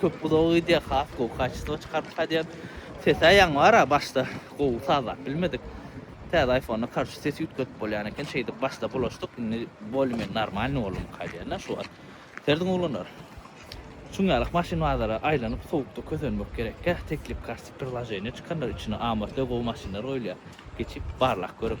Köp pudagy gidýär has gowy kaçestvo çykardyk ha diýen sesä ýaň bar a başda gowy sazlap bilmedik täze aýfonda karçy sesi üýtgetip bolýan eken şeýdip başda bulaşdyk indi bolmen normalny boldumyka diýen a şu wagt serdiň oglanlar şuň ýalak maşyn bazara aýlanyp sowukda kösenmek gerekkä teklip karçy prirlaženiýa çykandyr içine amortör gowy maşynlar goýulýar geçip barlap görüň.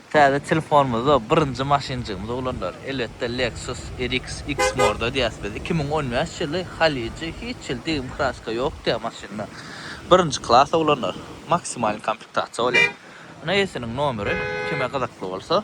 Täze telefonymyzda birinji maşynjygymyz oglanlar, elbetde, Lexus RX X-Morda diýýäs biz. Iki müň on bäş ýyly, Haliji, hiç hili degim kraska ýok diýýä maşynda. Birinji klas oglanlar, maksimalny komplektasiýa bolýar. Ine eýesiniň nomeri, kime gyzykly bolsa.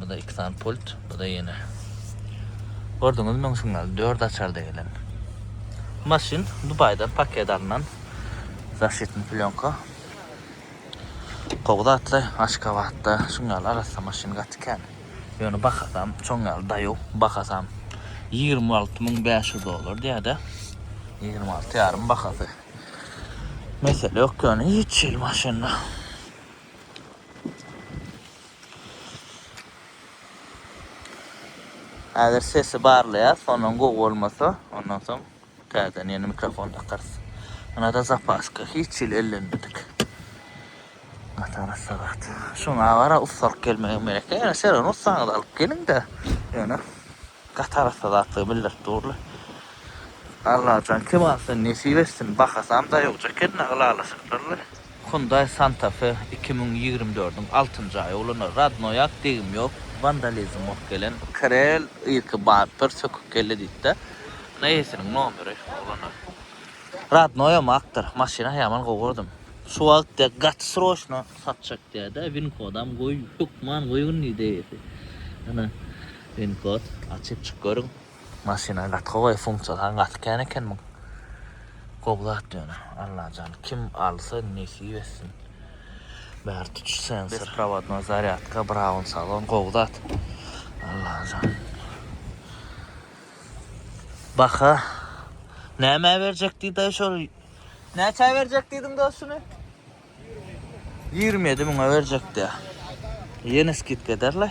Bu-da iki sany pult, bu-da ýene. Gördüňiz meň signal, dört açarda gelen. Maşyn Dubaýdan paket alnan, zaşitni plýonka. Gowy zatly, Aşgabatda şuň ýaly arassa maşyn gaty kän. Ýöne bahasam şoň ýaly daýow, bahasam ýigrimi alty müň bäş ýüz dollar diýýär-de, ýigrimi alty ýarym bahasy. Mesele ýok ýöne hiç hili maşynda. Häzir sesi barlaýas, sondan gowy bolmasa, ondan soň täzeden ýene mikrofon takarys. Ynada zapaska hiç hili ellenmedik. Gatara sagat. Şuňa gara ussalyk gelmegem gerek. Ýöne şeron ussaňyzy alyp geliň-de, ýöne gatarassa zatlygy bildirip durly. Allajan kemalysyny nesip etsin. Bahasam daýawja eken-de, ylalaşypdyrly. Hyundai Santa Fe iki müň ýigrimi dördüň altynjy aýy ulanylar. Radnoýak, degim ýok, wandalizm bolup gelen. Krel irki barypdyr, sökük kelle diýipdi. Ine eýesiniň nomeri, oglanlar. Radnoýam akdyr, maşyna ýaman gowy gurdum. Şu wagt diýýär, gaty sroçno satjak diýýär-de, winkodam goý, hökman goýgyn diýdi eýesi. Ana, winkod, açyp çyk görüň. Maşyna gaty gowy funksiýa saňa gaty kän eken muň. Gowy zat ýöne Allajan kim alsa nesip etsin. Bäri tutuş sensor. Besprovadnoý zarýadka braun salon gowy zat Allajan. Baha nämä berjek diýdaý şol. Näçä berjek diýdiň dos şuny? Ýigrimi ýedi müňe berjek diýýär. Ýene skidka ederle.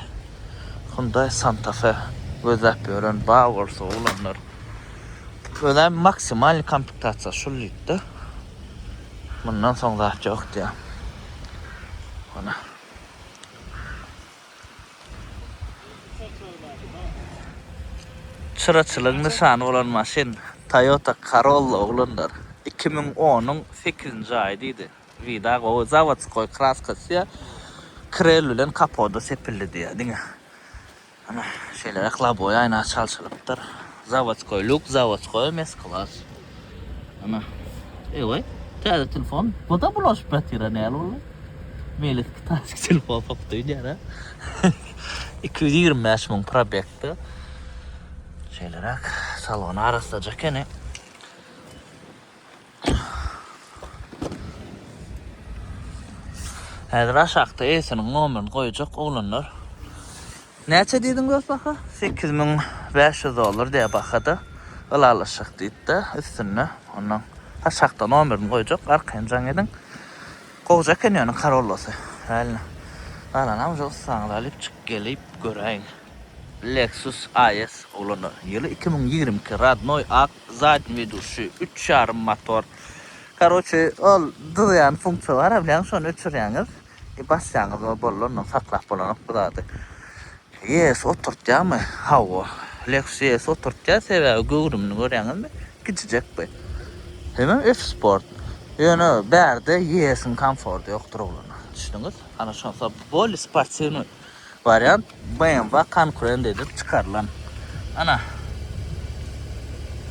Hyundai Santa Fe gözläp ýören bar bolsa oglanlar. Köne maksimalny komplektasiýa şul diýipdir. Mundan soň zat ýok diýýär. Hona. Çyraçylygyň nyşany bolan maşyn Toyota Corolla oglanlar iki müň onuň sekizinji aýy diýdi. Vida gowy, zawodskoý kraskasy krel bilen kapoda sepildi diýýär diňe. Ana şeýle rak loboý aýna çalşylypdyr. Zawodskoý luk zawodskoý mes klas. Ana. Eýway. Täze telefon. Buda bulaşyp ýatyra näl boldy. Meýlis kitayski telefon satyp öýdýär a. Iki ýüz ýigrimi bäş müň probekde. Şeýleräk salony arassaja ekeni. Häzir aşakda eýesiniň nomerini goýjak oglanlar. Näçe diýdiň dost baha? Sekiz müň bäş ýüz dollar diýýär bahada. Ylalaşjak diýipdi üstünde. Ondan aşakda nomerini goýjak. Arkaýyn jaň ediň. Gowja eken ýöne Corollosy. Reально. Galanam şo ussaňyzy alyp çykyp gelip göräýiň. Lexus AS oglanlar. Ýyly iki müň ýigrimi iki. Rodnoý ak. Zadny wedushi, üç ýarym motor. Karoçe ol dyzýan funksiýa bar bilýäňiz şony öçürýäňiz i basýaňyz we boldy ondan saklap bolanok bu zady. Ýes oturtýamy? Hawa. Lexus ýes oturtýar sebäbi göwrümini görýäňizmi? Kiçijek bi. Hemem F sport. Ýöne bärde ýesiň komforty ýokdur oglanlar. Düşdüňiz? Ana şonsa boli sportiwny. Wariant, BMW konkurent edip çykarylan. Ana,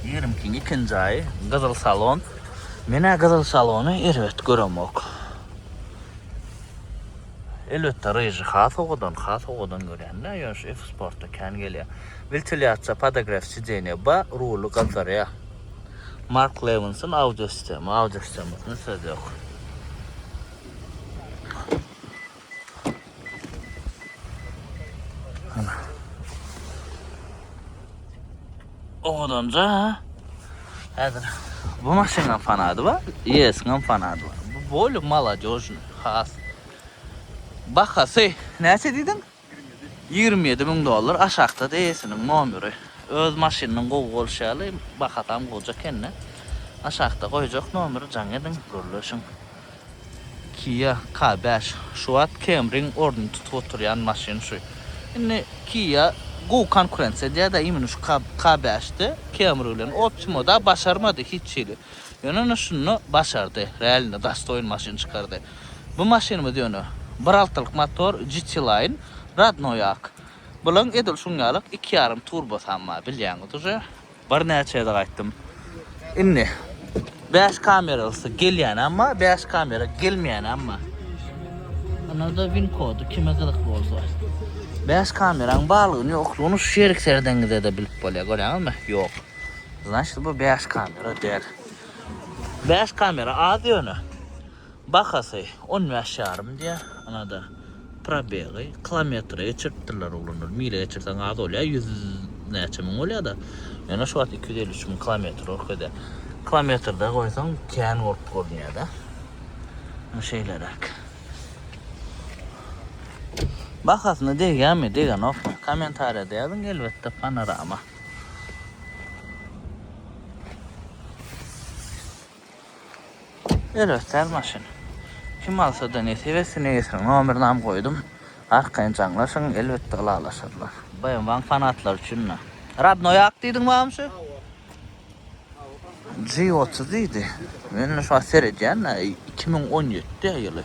ýerimkiň ikinji aýy, gyzyl salon. Men-ä gyzyl salony erbet göremok. Elbetde, ryžy has owadan, has owadan görýän-dä, ýöne şu F-Sport-da kän gelýär. Wentilyasiýa, podogref sidenýe bar, ruly gyzdyrýar. Mark Lewinsson audio sistema, audio sistemasyna söz ýok. Owadanja häzir bu maşynyň fanady bar, ES-iň fanady bar. Bu bol maladýožny has. Bahasy näçe diýdiň? 27 müň dollar aşakda da ES-iniň nomeri. Öz maşynynyň gowy bolşy ýaly bahasam goja ekende. Aşakda goýjak nomeri jaň ediň, gürleşiň. Kia K bäş şu wagt Camry-iň ornuny tutup oturýan maşyn şu. Indi Kia gowy konkurensiýa edýär-de imini şu K bäş-de Camry bilen. Optima-da başarmady hiç hili. Ýöne indi şunda başardy. Realny dastoýin maşyn çykardy. Bu maşynymyz ýöne bir altylyk motor GT-Line, rodnoýak. Bulaň edil şuň ýalyk iki ýarym turbosam bar bilýäňiz uje. Birnäçe gezek aýtdym. Indi bäş kameralysy gelýänem bar, bäş kamera gelmeýänem bar. Ynada win kody kime gyzykly bolsa. Bäş kameraň barlygyny ýoklugyny şu ýerik seredenizde-de bilip bolýar. Görýäňizmi? Ýok. Znaçt bu bäş kamera däl. Bäş kamera az ýöne. Bahasy on bäş ýarym diýýär. Ynada probegi kilometre geçiripdirler oglanlar. Mile geçirseň az bolýar, ýüz näçe müň bolýar-da. Ýöne şu wagt iki ýüz elli üç müň kilometr görkezýär. Kilometrde goýsaň kän bolup görünýär-de. Ine şeýleräk. Bahasyna degýärmi, degenokmy? Kommentariýada ýazyň, elbetde panorama. Örösler maşyn. Kim alsada nesip etsin eýesiniň nomerynam goýdum. Arkaýyn jaňlaşyň elbetde ylalaşarlar. BMW-nyň fanatlary üçin da. Radnoý ak diýdiň bamy şu? Hawa. G otuz diýdi. Men şu wagt seredýän-ä, iki müň on ýedi ýyly.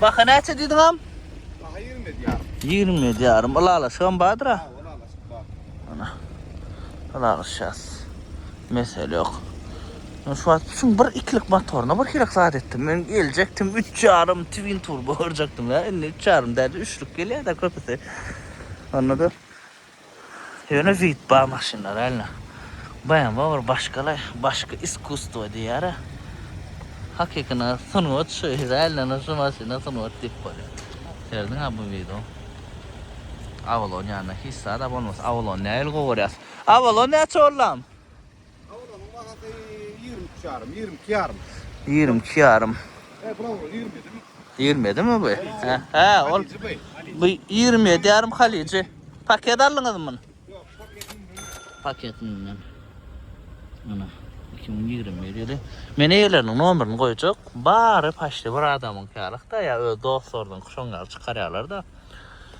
Baha näçe diýdiň am? Baha 20 edýär. 20 edýärim. Ylalaşygam bardyr-a. Ylalaşyk bar. Ana. Ylalaşýas. Mesele ýok. Men şu wagt üçin bir ikilik motoryna bir hili zat etdim. Men geljekdim 3 ýarym twin turbo görjekdim ya. Indi 3 ýarym däl, üçlük gelýär-de köpüsi. Anladym. Ýöne vip bar maşynlar äline. Bmw bir başgalaý, başga iskusstwo diýýärä. Hakykyna sungat şu, Izraýelden şu maşyna sungat diýip bolýar. Serediňa bu wideo. Avalon ýanyna hiç zada bolmasa, Avalon nähili gowy görýäs. Avalon näçe bollam? Kawulynyň bahasy 23 ýarym, 22 ýarym. 22 ýarym. E, bro, 20 edimi? 20 edimi bu? He, he, ol. Bu 27 ýarym halici. Paket aldyňyz mı? Yok, paketin mi? Paketin mi? Ana, 2020 ýyly. Men eýeleriniň nomerini goýjak. Bary paşdy bir adamyň ýalyk da, ýa öz dostlarynyň şoň ýaly çykarýarlar da.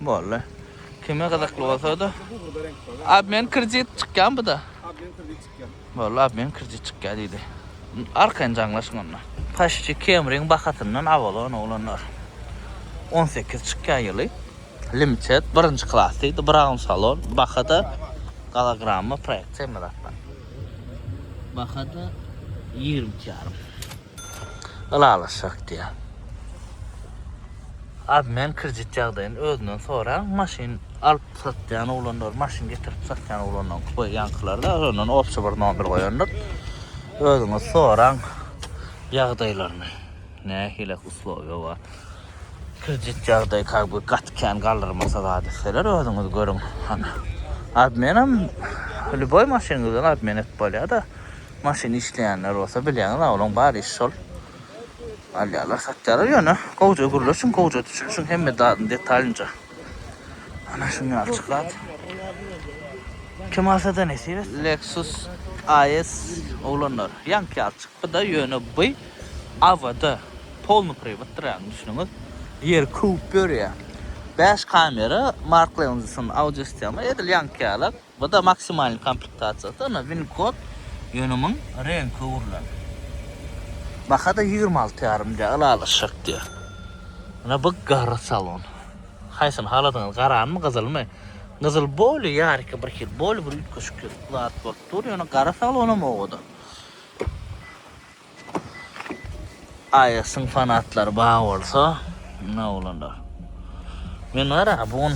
Bolly. Kime gyzykly bolsada. Obmen kredit çykýan buda. Obmen kredit çykýan. Bolly, obmen kredit çykýan diýdi. Arkaýyn jaňlaşyň onda. Paşçy Kemriň bahasyndan abalan oglanlar. 18 çykýan ýyly. Limited birinji klas diýdi. Brown salon. Bahada gologramma proýektiýa meratdan. Bahada 22 ýarym. Ylalaşjak diýýär. Abi men kredit ýagdaýyny özünden soraň, maşyn alyp satýan oglanlar, maşyn getirip satýan oglanlaryň köp ýaňkylarda, ondan obşy bir nomer goýandyr. Özüňiz soraň ýagdaýlaryny. Nähili uslowiýa bar. Kredit ýagdaýy kak bir gaty kän galdyrmasa zat etseler özüňiz görüň. Hany. Abi menem lüboý maşynyňyzdan abi men et bolýar-da. Maşyn işleýänler bolsa bilýäňiz awlaň bar işi şol. Alýarlar satýarlar ýöne gowja gürleşiň gowja düşünişiň hemme zadyny detalynja. Ana şuny açyklap. Kim alsa da nesip et. Lexus AS oglanlar ýaňky ýaly çykpyda ýöne by awada polny prywotdyr ýagny düşüniňiz ýeri köwüp ýörýä bäş kamera markleonzysyn audio sistema edil ýaňky ýala. Bu-da maksimalnyý komplektasiýasy, ynha win-kod, ýönümiň reňki öwrülen. Baha-da ýigrimi alty ýarym diýýär, ylalaşjak diýýär. Ynha bu gara salon. Haýsyny haladyňyz, garanymy, gyzylmy? Gyzyl boli ýaryka bir hil, boli bir üýtgeşik zat bolup dur, ýöne gara salonam oba-da. AES-iň fanatlary bar bolsa, mundan bolanlar. Men gara, bu gün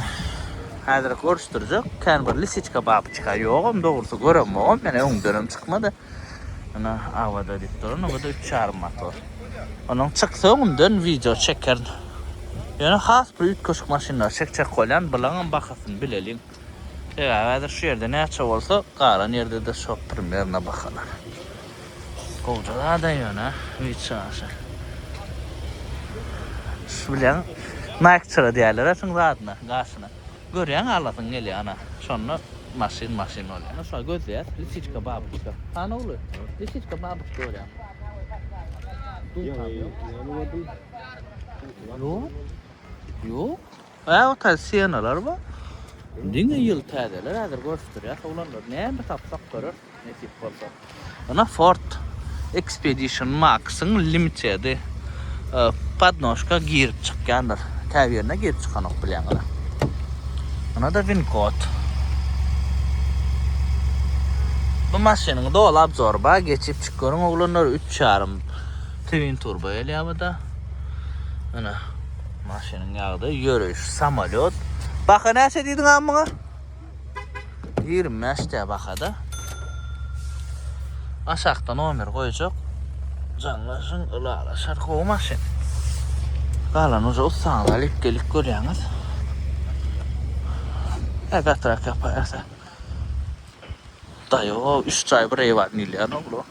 häzirek görüşdirjek, kän bir lisiçka bap çykar. Ýogam, dogrusy göremogam, men öňdenem çykmady. Ýöne Awada diýip duran, onda üç ýarym motor. Onuň çyksa öňünden wideo çekerin. Ýöne has bir üýtgeşik maşynlary çekjek bolýan, bularyňam bahasyny bileliň. Sebäbi häzir şu ýerde näçe bolsa, galan ýerde-de şo primerno bahalar. Gowja zad-a ýöne üýt çaşy. Şu bilen Nike çygy diýerler-ä şuň zadyna, gaşyna. Görýäň alasyň gelýär ana. Şonda maşyn maşyn bolýar. Ýöne şuňa gözleýäs, lisiçka babuçka. Hany ogly, lisiçka babuçka görýäňmi? Ýok, ýok. Ýok. Aýaga täze senalar bar. Diňe ýyl täzeler häzir görüşdirýäs oglanlar. Näme tapsak göreris nesip bolsa. Ýöne Ford Expedition Max-yň limitedi podnožka girip çykýandyr. Käbirine girip çykanok bilýäňizä. Ynada winkod. Bu maşynyň doly obzory bar, geçip çyk görüň oglanlar. Üç ýarym twin turbo gelýär bu-da. Ynha. Maşynyň ýagdaýy ýöreýiş samalýot. Baha näçe diýdiň agam muňa? 25 dä bahada. Aşakda nomer goýjak. Jaňlaşyň ylalaşar gowy maşyn. Galan uja ussaňyz alyp gelip görýäňiz. Ä gatrak ýapaýsa. Daýo, üç jaý bir eýwan diýilýän oglu.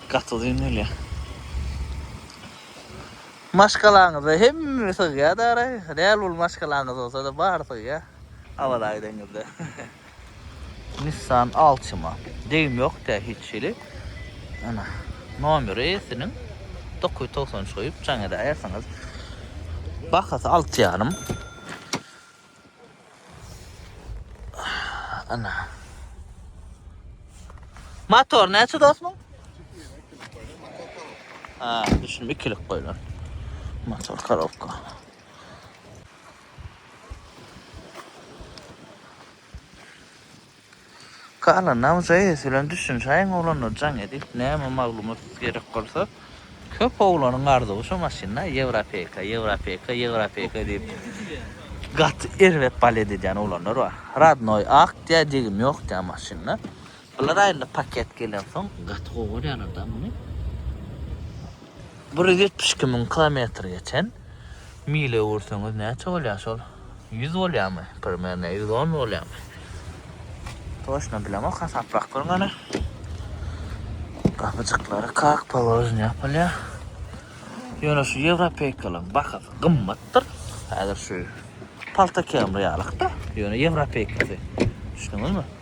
Gaty uzyn gelýär. Maşgalaňyza hemme sygýar dara. Däl ol maşgalaňyz bolsada bary sygýar. Awaza gideňizde. Nissan Altima. Degim ýok dä hiç hili. Ana nomeri siniň 993 goýup jaň edäýersiňiz. Bahasy alty ýarym. Ana. Motor näçe dostum? Ha, düşünme ikilik koyulan. Motor karovka. Kala nam JS bilen düşünşäýiň oglanlar jaň edip näme maglumat gerek bolsa köp oglanyň arzuwy şu maşynda ýewropeka ýewropeka ýewropeka diýip gaty erbet balet edýän oglanlar bar radnoý akt ýa degim ýok diýýän maşynda bular aýynda paket gelensoň gaty gowy görýärler da muny. Bir ýüz ýetmiş iki müň kilometr geçen mile ursaňyz näçe bolýar şol? Ýüz bolýarmy? Primerno ýüz on bolýarmy? Toşna bilemok hasaplap görüň ana. Gapyjyklary kak položen ýapylýar. Ýöne şu ýewropeýkalyň bahasy gymmatdyr. Häzir şu palta kemri ýalykda. Ýöne ýewropeýkasy. Düşündiňizmi?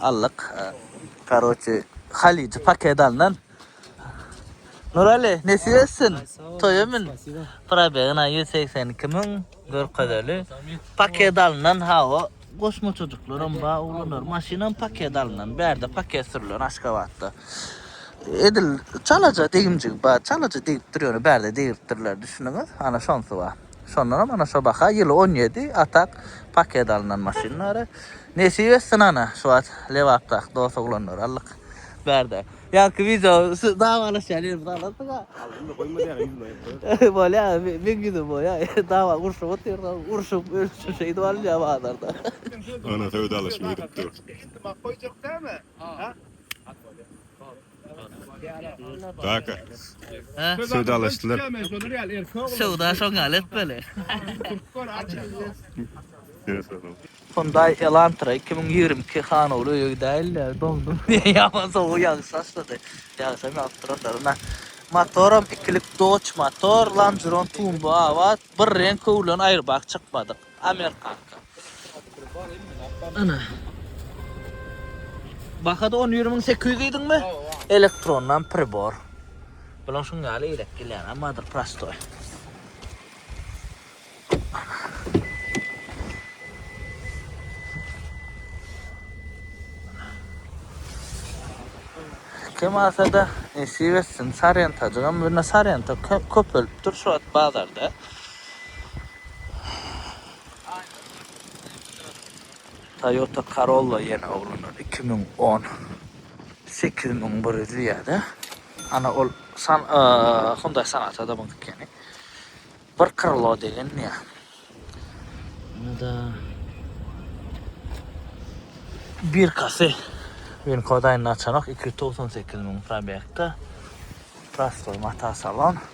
Aldyk. Karoçi halyjy paket alnan. Nurali nesip etsin. Toýa mün. Probeg na 182 müň görkezeli. Paket alnan hawa. Goşma çocuklarym ba oglanlar. Maşynam paket alnan. Bärde paket sürülen Aşgabatda. Edil çalaja degimjigi ba. Çalaja degip durýar. Bärde degiripdirler düşüniňiz. Ana şonsy ba. Şondanam ana şo baha ýyly on ýedi atak paket alnan maşynlary. Nesip etsin ana şu wagt Lebapdaky dos oglanlary aldyk bärde. Ýarky wideo dawalaşýan ýerimizi alarsyňa. Indi goýma däne ýüzüme aýyp goýarsyn. Bolýa meň ýüzüm bolýa dawa urşup otyrda urşup ölçüp şeýdip alynýa bazarda. Ana söwdalaşma edip dur. Indi mak goýjak däme. Ha. At bolýa. Kaka. Söwdalaşdylar. Söwda şoň ýaly etmeli. Hyundai Elantra iki müň ýigrimi iki hanowly öýe gidäýeli, doňdum diýýän ýaman sowuk ýagyş başlady. Ýagşam ýagyp durandyr ynha. Motoram ikilik Dodge motor, Lanceron Tumbo abat, bir reňk howlan aýryp ak çykmadyk. Amer kanka. Ana. Bahada on bir müň sekiz ýüz diýdiňmi? Elektrondan pribor. Bulan şun ýaly eýlek gelýär, ammadyr prostoý. Kim alsa da nesip etsin. Sarýentajygam, birine sarýentak köpelipdir şu wagt bazarda. Toyota Corolla ýene oglanlar iki müň on sekiz müň bir ýüz diýýärde. Ana ol san Hyundai Sonata da muňki ekeni. Bir krilo degen diýä. Ýa da bir kasy Win kodaýyny açanok iki ýüz togsan sekiz müň probegde. Prostoý mata salon.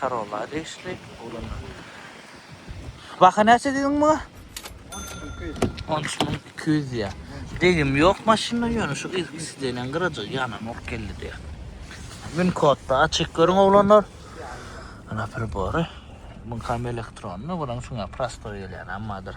Karola degişli oglanlar. Baha näçe diýdiň muňa? 13200 diýýär. Degim ýok maşynda ýöne şu yzky sideniň gyrajygy ýananok geldi diýýär. Win kodda açyk görüň oglanlar. Ana pribory. Bu kam elektronny, bulan şuňa prostoý gelýär, ammadyr.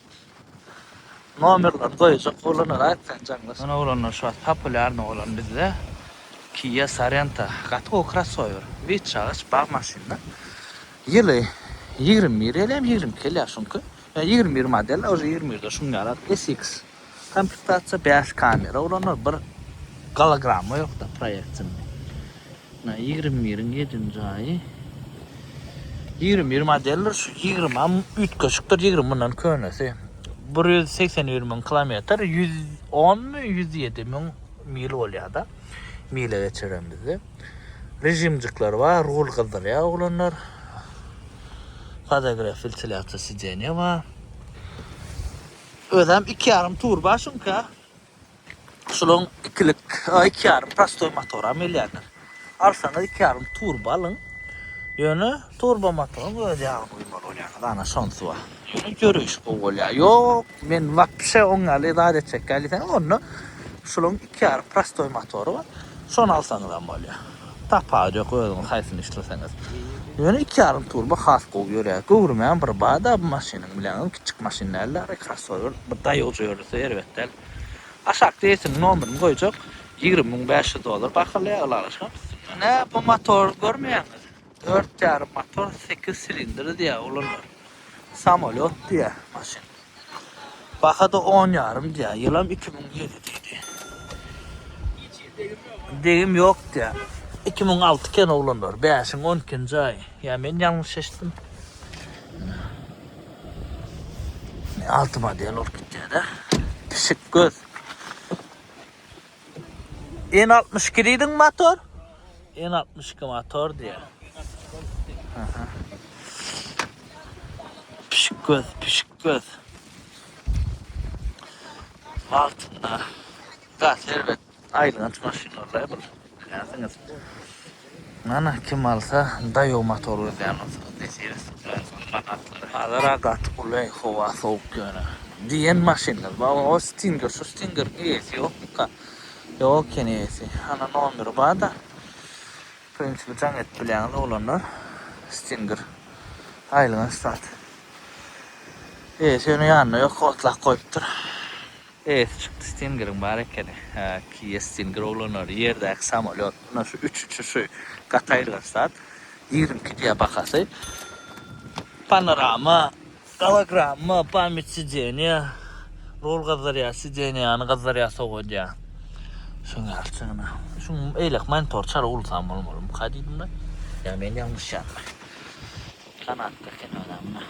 Nomerleri goýjak oglanlara aýt sen jaňlaş. Mena oglanlar şu wagt populýarnyý bolan bizde Kia Sorento gaty gowy krossower. Wid çagyş bag maşynda. Ýyly ýigrimi bir ýaly hem ýigrimi iki ýaly ýa şuňky. Ýa ýigrimi bir model a uje ýigrimi birde şuny ýalar SX komplektasiýa bäş kamera oglanlar bir gologramma ýokda proýeksion. Mena ýigrimi biriň ýedinji jaýy. Ýigrimi bir modeldir. Şu ýigrimim üýtgeşikdir. Ýigrimi mundan könesi. Bir ýüz segsen bir müň kilometr, ýüz onmy, ýüz ýedi müň mil bolýar-da. Mile geçiren bizde. Režimjikler bar, rul gyzdyrýar oglanlar. Podogref wentilýasiýa sideniýe bar. Özem iki ýarym turba şunka. Şolaň ikilik, iki ýarym prostoý motoram gelýändir. Alsaňyz iki ýarym turba alyň. Ýöne turba motoryň öz ýagyny guýmaly bolýaňyz, ana şonsy bar. Ýöne ýöreýiş gowy bolýar. Ýok, men wapşe oň ýaly zat etjek däl diýseňiz, onda şolaň iki ýarym prostoý motory bar. Şony alsaňyzam bolýar. Tapawy ýok özüňiz haýsyny isleseňiz. Ýöne iki ýarym turbo has gowy ýörýär. Göwrümem bir bada bu maşynyň bileňem kiçjik maşyn däl dagly krossower bir daýojo ýörese erbet däl. Aşak reýsiniň nomerini goýjak ýigrimi müň bäş ýüz dollar bahylýar ylalaşyk hem üstünde. Nä bu motor görmeýäňiz. Dört ýarym motor, sekiz silindr diýýär olanlar. Samolýot diýýär maşyn. Baha-da on ýarym diýýär. Ýylam iki müň ýedi diýdi. Degim ýok diýýär. Iki müň alty eken oglanlar. Bäşiň on ikinji aýy. Ýa men ýalňyş eşitdim. Alty model bolup gidýär-de. Pişik göz. N altmyş iki diýdiň motor? N altmyş iki motor diýýär. Pişik göz, pişik göz. Altynda. Gaz erbet. Aýlyň açmaşyn bolýar bu. Näsiňiz? Mana kim alsa daýow motor gözýän bolsaňyz nesibe etsin Jason manatlary hazara gaty gulaý howa sowuk ýöne diýen maşynlar bar o stinger şu stingeriň eýesi ýokmyka ýok eken eýesi ana nomeri barda prinsipi jaň edip bilýäňiz oglanlar stinger aýlygyna stat eýesi ýöne ýanynda ýok otlap goýupdyr. Eýesi çykdy Stingeriň bar ekeni. Hä kiýe Stinger oglanlary ýerdäki samolýot mundan şu üç uçuşy gaty aýylganç zat. Ýigrimi iki diýýä bahasy. Panorama, gologramma, pamýat sideniýa, rul gyzdyrýa, sideniýany gyzdyrýa sowadýa. Şoň ýaly çyna. Şuň eýlek monitor çala ulsam bolmalymyka diýdimde. Ýa men ýalňyşýanmy. Kanatda ekeni ýa-da mundan.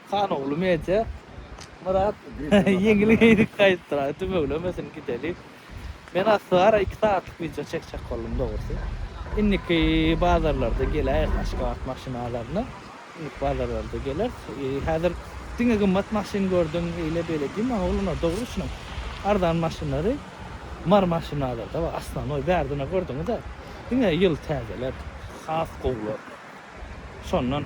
Hanogly media Myrat ýeňil geýdik gaýypdyr aý dümewlemesin gideli. Men aslygara iki sagatlyk wideo çekjek boldum dogrusy. Indiki bazarlarda geläýeris Aşgabat maşynalaryna. Indiki bazarlarda geleris. Häzir diňe gymmat maşyn gördüm eýle beýle diýme oglanlar dogry düşüniň. Arzan maşynlary Mary maşynalaryda bar Aslanoý bärdine gördüňiz-ä. Diňe ýyl täzeler has gowular. Şondan.